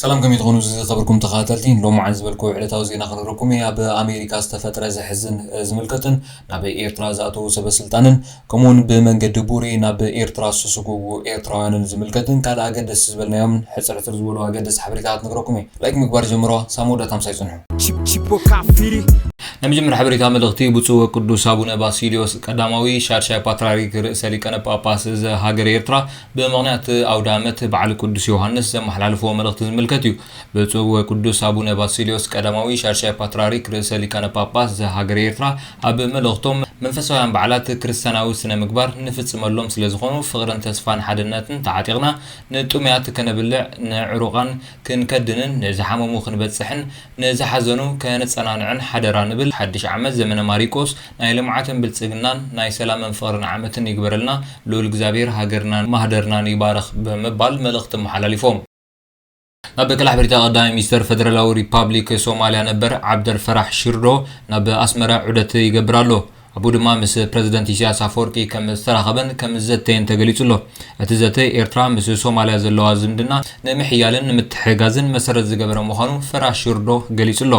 ሰላም ከመይ ትኾኑ ዝኸበርኩም ተኸታተልቲ ሎማዓንቲ ዝበልክዎ ዕለታዊ ዜና ክንረኩም እየ ኣብ ኣሜሪካ ዝተፈጥረ ዘሕዝን ዝምልከትን ናብ ኤርትራ ዝኣተዉ ሰበስልጣንን ከምኡውን ብመንገዲ ቡሬ ናብ ኤርትራ ዝተሰጎጉ ኤርትራውያንን ዝምልከትን ካልእ ኣገደስቲ ዝበልናዮም ሕፅርፅር ዝበሉ ኣገደስቲ ሓበሬታታት ነግረኩም እየ ላይክ ምግባር ጀምርዋ ሳብ መወዳእታ ምሳይ ጽንሑ። ቺፕ ቺፖ ካብ ፊሪ ናይ መጀመርያ ሓበሬታ መልእኽቲ ብፁዕ ወቅዱስ ኣቡነ ባሲልዮስ ቀዳማዊ ሻድሻይ ፓትርያርክ ርእሰ ሊቃነ ጳጳስ ዘሃገረ ኤርትራ ብምኽንያት ኣውደኣመት በዓል ቅዱስ ዮሃንስ ዘመሓላለፍዎ መልእኽቲ ዝምልከት እዩ። ብፁዕ ወቅዱስ ኣቡነ ባሲልዮስ ቀዳማዊ ሻድሻይ ፓትርያርክ ርእሰ ሊቃነ ጳጳስ ዘሃገረ ኤርትራ ኣብ መልእኽቶም መንፈሳውያን በዓላት ክርስትያናዊ ስነ ምግባር ንፍጽመሎም ስለ ዝኾኑ ፍቕርን ተስፋን ሓድነትን ተዓጢቕና ንጥሙያት ከነብልዕ ንዕሩቓን ክንከድንን ንዝሓመሙ ክንበጽሕን ንዝሓዘኑ ከነጸናንዕን ሓደራ ንብል። ሓድሽ ዓመት ዘመነ ማሪቆስ ናይ ልምዓትን ብልጽግናን ናይ ሰላምን ፍቕርን ዓመትን ይግበረልና ልኡል እግዚኣብሄር ሃገርናን ማህደርናን ይባርኽ ብምባል መልእኽቲ ኣመሓላሊፎም። ናብ ክላሕብሪታ ቀዳማይ ሚኒስተር ፈደራላዊ ሪፓብሊክ ሶማልያ ነበር ዓብደልፈራሕ ሺርዶ ናብ ኣስመራ ዑደት ይገብር ኣሎ። ኣብኡ ድማ ምስ ፕረዚደንት ኢሳያስ ኣፈወርቂ ከም ዝተራኸበን ከም ዝዘተየን ተገሊጹ ኣሎ። እቲ ዘተ፣ ኤርትራ ምስ ሶማልያ ዘለዋ ዝምድና ንምሕያልን ንምትሕግጋዝን መሰረት ዝገበረ ምዃኑ ፈራሽ ሽርዶ ገሊጹ ኣሎ።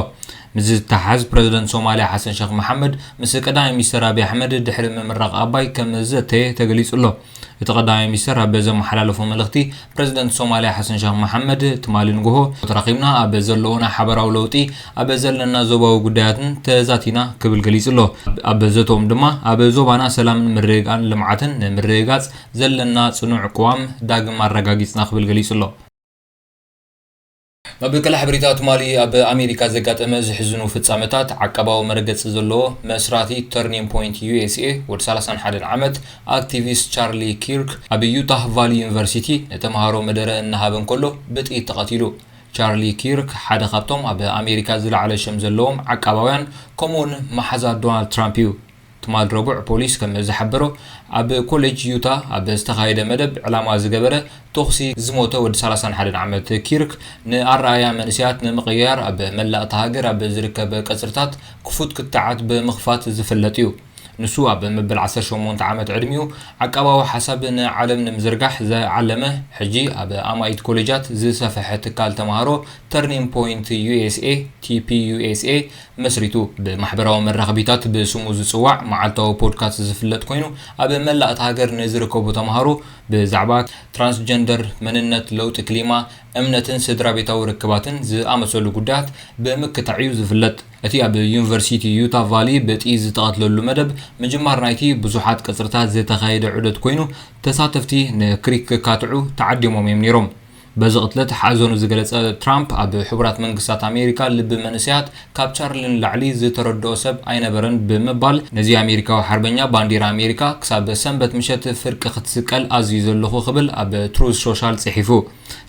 ምስዚ ዝተሓሓዝ ፕረዚደንት ሶማልያ ሓሰን ሸኽ መሓመድ ምስ ቀዳማይ ሚኒስተር ኣቢይ ኣሕመድ ድሕሪ ምምራቕ ኣባይ ከም ዝዘተየ ተገሊጹ ኣሎ። እቲ ቀዳማይ ሚኒስተር ኣብ ዘመሓላለፎ መልእኽቲ፣ ፕረዚደንት ሶማልያ ሓሰን ሸኽ መሓመድ፣ ትማሊ ንጉሆ ተራኺብና ኣብ ዘለዎና ሓበራዊ ለውጢ፣ ኣብ ዘለና ዞባዊ ጉዳያትን ተዛቲና ክብል ገሊጹ ኣሎ። ኣብ ዘተኦም ድማ፣ ኣብ ዞባና ሰላምን ምርግጋእን ልምዓትን ንምርግጋጽ ዘለና ጽኑዕ ቅዋም ዳግም ኣረጋጊጽና ክብል ገሊጹ ኣሎ። መበቀል ሓበሬታ ትማሊ ኣብ ኣሜሪካ ዘጋጠመ ዘሕዝኑ ፍጻመታት ዓቃባዊ መረገጺ ዘለዎ መስራቲ ተርኒንግ ፖይንት ዩኤስኤ ወዲ ሰላሳን ሓደን ዓመት ኣክቲቪስት ቻርሊ ኪርክ ኣብ ዩታህ ቫሊ ዩኒቨርሲቲ ንተምሃሮ መደረ እናሃበ እንከሎ ብጥይት ተቐቲሉ። ቻርሊ ኪርክ ሓደ ካብቶም ኣብ ኣሜሪካ ዝለዓለ ሽም ዘለዎም ዓቃባውያን ከምኡ'ውን መሓዛ ዶናልድ ትራምፕ እዩ። ትማል ረቡዕ ፖሊስ ከም ዝሓበሮ ኣብ ኮሌጅ ዩታ ኣብ ዝተኻየደ መደብ ዕላማ ዝገበረ ተኹሲ ዝሞተ ወዲ ሰላሳን ሓደን ዓመት ኪርክ ንኣረኣእያ መንእሰያት ንምቕይያር ኣብ መላእ እታ ሃገር ኣብ ዝርከብ ቀጽርታት ክፉት ክትዓት ብምኽፋት ዝፍለጥ'ዩ። ንሱ ኣብ መበል ዓሰርተ ሸሞንተ ዓመት ዕድሚኡ ዓቃባዊ ሓሳብ ንዓለም ንምዝርጋሕ ዝዓለመ ሕጂ ኣብ ኣማኢት ኮሌጃት ዝሰፈሐ ትካል ተማሃሮ ተርኒንግ ፖይንት ዩኤስኤ፣ TPUSA፣ መስሪቱ ብማሕበራዊ መራኸቢታት ብስሙ ዝጽዋዕ መዓልታዊ ፖድካስት ዝፍለጥ ኮይኑ፣ ኣብ መላእ እታ ሃገር ንዝርከቡ ተማሃሮ ብዛዕባ ትራንስጀንደር፣ መንነት፣ ለውጢ ክሊማ፣ እምነትን ስድራቤታዊ ርክባትን ዝኣመሰሉ ጉዳያት ብምክታዕ'ዩ ዝፍለጥ። እቲ ኣብ ዩኒቨርሲቲ ዩታ ቫሊ ብጥይት ዝተቐትለሉ መደብ ምጅማር ናይቲ ብዙሓት ቀጽርታት ዝተኻየደ ዑደት ኮይኑ፣ ተሳተፍቲ ንክሪክ ክካትዑ ተዓዲሞም'ዮም ነይሮም። በዚ ቅትለት ሓዘኑ ዝገለጸ ትራምፕ፣ ኣብ ሕቡራት መንግስታት ኣሜሪካ ልቢ መንእሰያት ካብ ቻርሊ ንላዕሊ ዝተረድኦ ሰብ ኣይነበረን ብምባል፣ ነዚ ኣሜሪካዊ ሓርበኛ ባንዴራ ኣሜሪካ ክሳብ ሰንበት ምሸት ፍርቂ ክትስቀል ኣዚዘ ኣለኹ ክብል ኣብ ትሩዝ ሾሻል ጽሒፉ።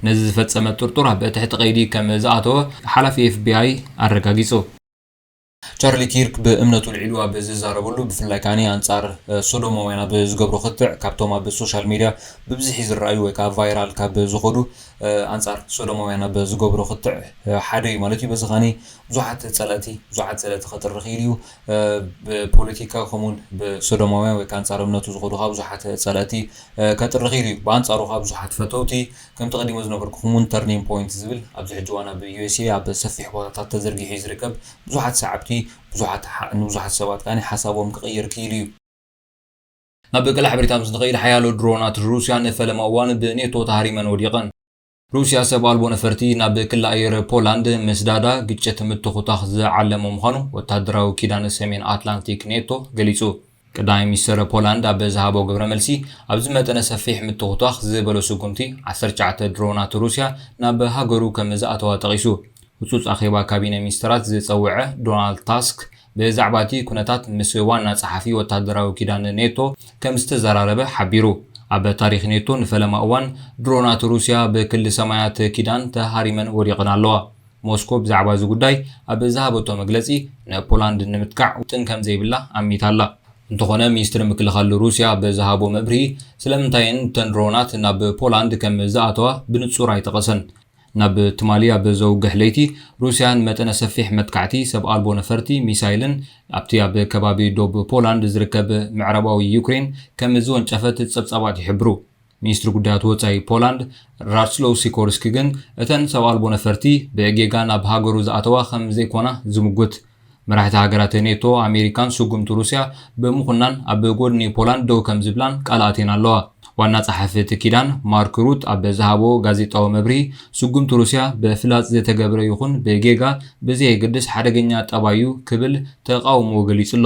ነዚ ዝፈጸመ ጥርጡር ኣብ ትሕቲ ቀይዲ ከም ዝኣተወ ሓላፊ ኤፍቢኣይ ኣረጋጊጹ። ቻርሊ ኪርክ ብእምነቱ ኣልዒሉ ኣብ ዝዛረበሉ፣ ብፍላይ ከኣ ኣንጻር ሶዶማውያን ኣብ ዝገብሮ ክትዕ፣ ካብቶም ኣብ ሶሻል ሜድያ ብብዝሒ ዝረኣዩ ወይ ከኣ ቫይራል ካብ ዝኾዱ ኣንጻር ሶዶማውያን ኣብ ዝገብሮ ክትዕ ሓደ እዩ ማለት እዩ። በዚ ከኣ ብዙሓት ጸለእቲ ብዙሓት ጸለእቲ ከጥሪ ክኢሉ እዩ። ብፖለቲካ ከምኡውን ብሶዶማውያን ወይ ከኣ ኣንጻር እምነቱ ዝኾዱ ከኣ ብዙሓት ጸለእቲ ከጥሪ ክኢሉ እዩ። ብኣንጻሩ ከኣ ብዙሓት ፈተውቲ ከምቲ ቀዲሙ ዝነገርኩኹም እውን ተርኒንግ ፖይንት ዝብል ኣብዚ ሕጂ እዋን ኣብ USA ኣብ ሰፊሕ ቦታታት ተዘርጊሑ እዩ ዝርከብ ብዙሓት ሰዓብቲ ብዙሓት ንብዙሓት ሰባት ከኣ ሓሳቦም ክቕይር ክኢሉ እዩ። ናብ ቀላሕ ብሪታ ምስ ንኸይድ ሓያሎ ድሮናት ሩስያ ንፈለማ እዋን ብኔቶ ተሃሪመን ወዲቐን። ሩስያ ሰብ ኣልቦ ነፈርቲ ናብ ክሊ ኣየር ፖላንድ ምስዳዳ ግጭት ምትኹታኽ ዝዓለመ ምዃኑ ወተሃደራዊ ኪዳን ሰሜን ኣትላንቲክ ኔቶ ገሊጹ። ቀዳማይ ሚኒስተር ፖላንድ ኣብ ዝሃቦ ግብረ መልሲ፣ ኣብዚ መጠነ ሰፊሕ ምትኹቷኽ ዝበሎ ስጉምቲ፣ ዓሰርተ ትሽዓተ ድሮናት ሩስያ ናብ ሃገሩ ከም ዝኣተዋ ጠቒሱ። ህጹጽ ኣኼባ ካቢነ ሚኒስተራት ዝጸውዐ ዶናልድ ታስክ፣ ብዛዕባ'ቲ ኩነታት ምስ ዋና ጸሓፊ ወተሃደራዊ ኪዳን ኔቶ ከም ዝተዘራረበ ሓቢሩ። ኣብ ታሪኽ ኔቶ ንፈለማ እዋን ድሮናት ሩስያ ብክሊ ሰማያት ኪዳን ተሃሪመን ወዲቐን ኣለዋ። ሞስኮ ብዛዕባ እዚ ጉዳይ ኣብ ዝሃበቶ መግለጺ፣ ንፖላንድ ንምጥቃዕ ውጥን ከም ዘይብላ ኣሚታ ኣላ። እንተዀነ ሚኒስትሪ ምክልኻል ሩስያ ብዝሃቦ መብርሂ፣ ስለምንታይ'የን እተን ድሮናት ናብ ፖላንድ ከም ዝኣተዋ ብንጹር ኣይጠቐሰን። ናብ ትማሊ ኣብ ዘውግሕ ለይቲ፣ ሩስያ ንመጠነ ሰፊሕ መጥቃዕቲ ሰብ ኣልቦ ነፈርቲ፣ ሚሳይልን ኣብቲ ኣብ ከባቢ ዶብ ፖላንድ ዝርከብ ምዕራባዊ ዩክሬን ከም ዝወንጨፈት ጸብጻባት ይሕብሩ። ሚኒስትሪ ጉዳያት ወጻኢ ፖላንድ ራትስሎው ሲኮርስኪ ግን እተን ሰብ ኣልቦ ነፈርቲ ብጌጋ ናብ ሃገሩ ዝኣተዋ ከም ዘይኮና ዝምጉት፣ መራሕቲ ሃገራት ኔቶ ኣሜሪካን ስጉምቲ ሩስያ ብምኹናን ኣብ ጎድኒ ፖላንድ ደው ከም ዝብላን ቃል ኣትየን ኣለዋ። ዋና ጸሓፊ እቲ ኪዳን ማርክ ሩት ኣብ ዝሃቦ ጋዜጣዊ መብርሂ፣ ስጉምቲ ሩስያ ብፍላጽ ዝተገብረ ይኹን ብጌጋ ብዘየገድስ ሓደገኛ ጠባይ'ዩ ክብል ተቓውሞኡ ገሊጹ'ሎ።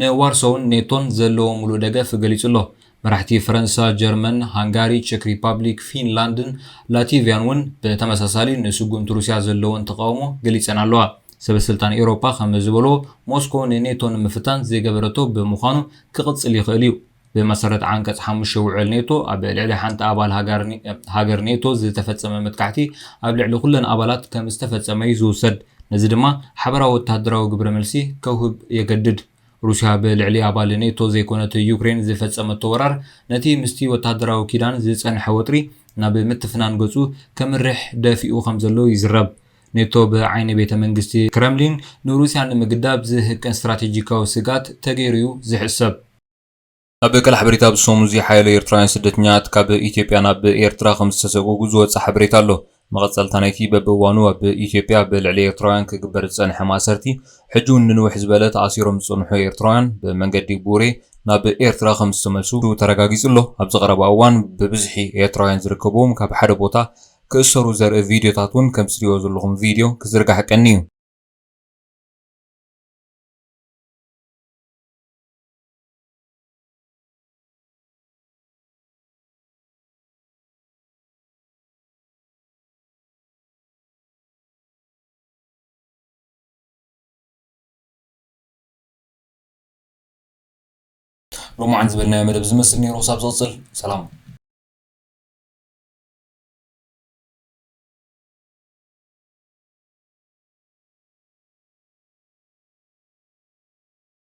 ንዋርሶውን ኔቶን ዘለዎ ምሉእ ደገፍ ገሊጹ ኣሎ። መራሕቲ ፈረንሳ፣ ጀርመን፣ ሃንጋሪ፣ ቸክ ሪፓብሊክ፣ ፊንላንድን ላቲቭያን እውን ብተመሳሳሊ ንስጉምቲ ሩስያ ዘለወን ተቓውሞ ገሊጸን ኣለዋ። ሰበስልጣን ኤውሮጳ ከም ዝበልዎ፣ ሞስኮ ንኔቶ ንምፍታን ዘይገበረቶ ብምዃኑ ክቕጽል ይኽእል'ዩ። ብመሰረት ዓንቀጽ ሓሙሽተ ውዕል ኔቶ፣ ኣብ ልዕሊ ሓንቲ ኣባል ሃገር ኔቶ ዝተፈጸመ መጥቃዕቲ ኣብ ልዕሊ ኩለን ኣባላት ከም ዝተፈጸመ'ዩ ዝውሰድ፣ ነዚ ድማ ሓበራዊ ወተሃደራዊ ግብረ መልሲ ከውህብ የገድድ። ሩስያ ብልዕሊ ኣባል ኔቶ ዘይኮነት ዩክሬን ዝፈጸመቶ ወራር፣ ነቲ ምስቲ ወተሃደራዊ ኪዳን ዝጸንሐ ወጥሪ ናብ ምትፍናን ገጹ ከምርሕ ደፊኡ ከም ዘሎ ይዝረብ። ኔቶ ብዓይኒ ቤተ መንግስቲ ክረምሊን ንሩስያ ንምግዳብ ዝህቅን ስትራቴጂካዊ ስግኣት ተገይሩ'ዩ ዝሕሰብ። ኣብ ቀል ሓበሬታ ኣብ ሰሙን እዚ ሓያሎ ኤርትራውያን ስደተኛታት ካብ ኢትዮጵያ ናብ ኤርትራ ከም ዝተሰጉጉ ዝወጸ ሓበሬታ ኣሎ። መቐጸልታ ናይቲ በብእዋኑ ኣብ ኢትዮጵያ ኣብ ልዕሊ ኤርትራውያን ክግበር ዝጸንሐ ማእሰርቲ፣ ሕጂ'ውን ንንውሕ ዝበለ ተኣሲሮም ዝጸንሑ ኤርትራውያን ብመንገዲ ቡሬ ናብ ኤርትራ ከም ዝተመልሱ ተረጋጊጹ ኣሎ። ኣብዚ ቀረባ እዋን ብብዝሒ ኤርትራውያን ዝርከብዎም ካብ ሓደ ቦታ ክእሰሩ ዘርኢ ቪድዮታት እውን ከምቲ ትርእይዎ ዘለኹም ቪድዮ ክዝርጋሕ ቀንዩ። ሎማዓንቲ ዝበልናዮ መደብ ዝመስል ነይሩ ክሳብ ዝቕፅል ሰላም